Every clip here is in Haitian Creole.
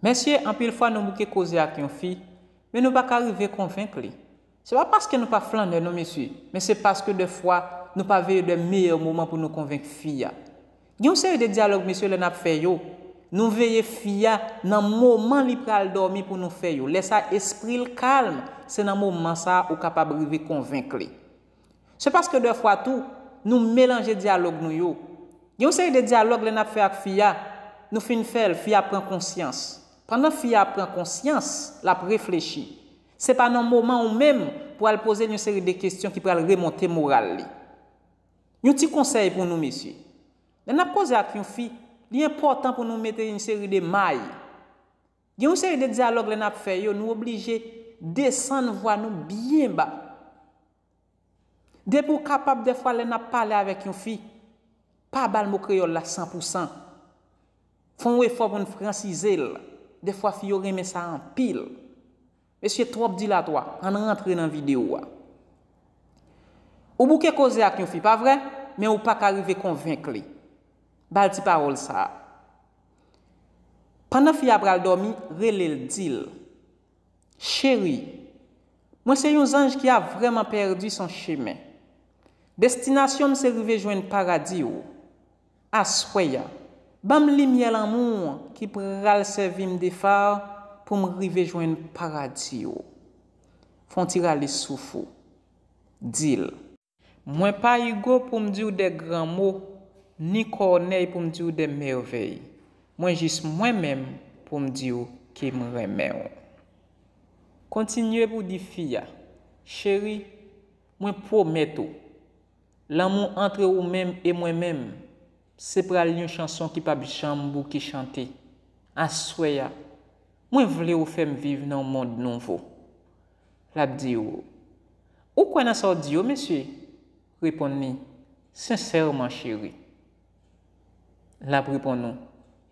Mesye, anpil fwa nou bouke koze ak yon fi, men nou pa ka rive konvenk li. Se pa paske nou pa flannè non mesye, men se paske dè fwa nou pa veye dè meyè moman pou nou konvenk fi a. Gen yon seri de dyalòg mesye lè nap fè yo, nou veye fi a nan moman li pral dòmi pou nou fè yo, lè sa espri l kalm, se nan moman sa ou kapab rive konvenk li. Se paske dè fwa tou, nou melanje dyalòg nou yo. Gen yon seri de dyalòg lè n ap fè ak fi a, nou fin fè l, fi a pran konsyans. Pandan fi a ap pran konsyans, l ap reflechi. Se pa nan moman ou menm pou al poze l yon seri de kesyon ki pral remonte moral li. Yon ti konsèy pou nou mesye. Lè n ap koze ak yon fi, li enpòtan pou nou mete yon seri de may. Gen yon seri de dyalòg lè n ap fè yo nou oblije desann vwa nou byen ba. Depi ou kapab dèfwa lè n ap pale avèk yon fi, pa ba l mo kreyòl la san pou san. Fè yon efò pou n fransize l. Dèfwa fi yo renmen sa anpil. Mesye trop dilatwa, ann rantre nan video a. Ou bouke koze ak yon fi pa vre, men ou paka rive konvenk li. Bal ti pawol sa. Pandan fi a pral domi, relel dil. Cheri, mwen se yon zanj ki a vreman perdi son chemen. Destinasyonm se rive jwenn paradi ou. Aswè a, ban m limyè lanmou w ki pral sèvi m de fa pou m rive jwenn paradi w. Fè yon ti rale souf ou. Di l. Mwen pa Igo pou m di w de gran mo, ni Kònèy pou m di w de mèvèy. Mwen jis mwen menm pou m di w ke m renmen w. Kontinye pou w di fi a, Cheri, mwen pwomèt ou. Lanmou antre ou menm e mwen menm Se pral yon chanson ki pap janm bouke chante Aswè a Mwen vle ou fè m viv nan yon mond nouvo L ap di ou Ou kwè nan sa w di yo mesye? Reponn li Sensèman cheri L ap reponn ou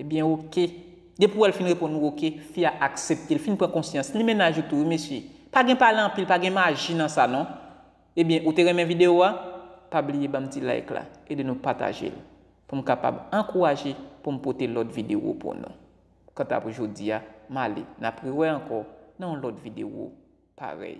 Ebyen oke Depi wè l fin reponn ou oke fi a aksepte l fin pran konsyans Li mennaj ou tou wi mesye Pa gen pale anpil pa gen maji nan sa non Ebyen ou te renmen video a? Pa bliye banm ti like la, ede nou patajel poum kapab ankouraje poum pote lòt video pou nou. Kanta pou jodia male nap rewè ankò nan yon lòt video parèy.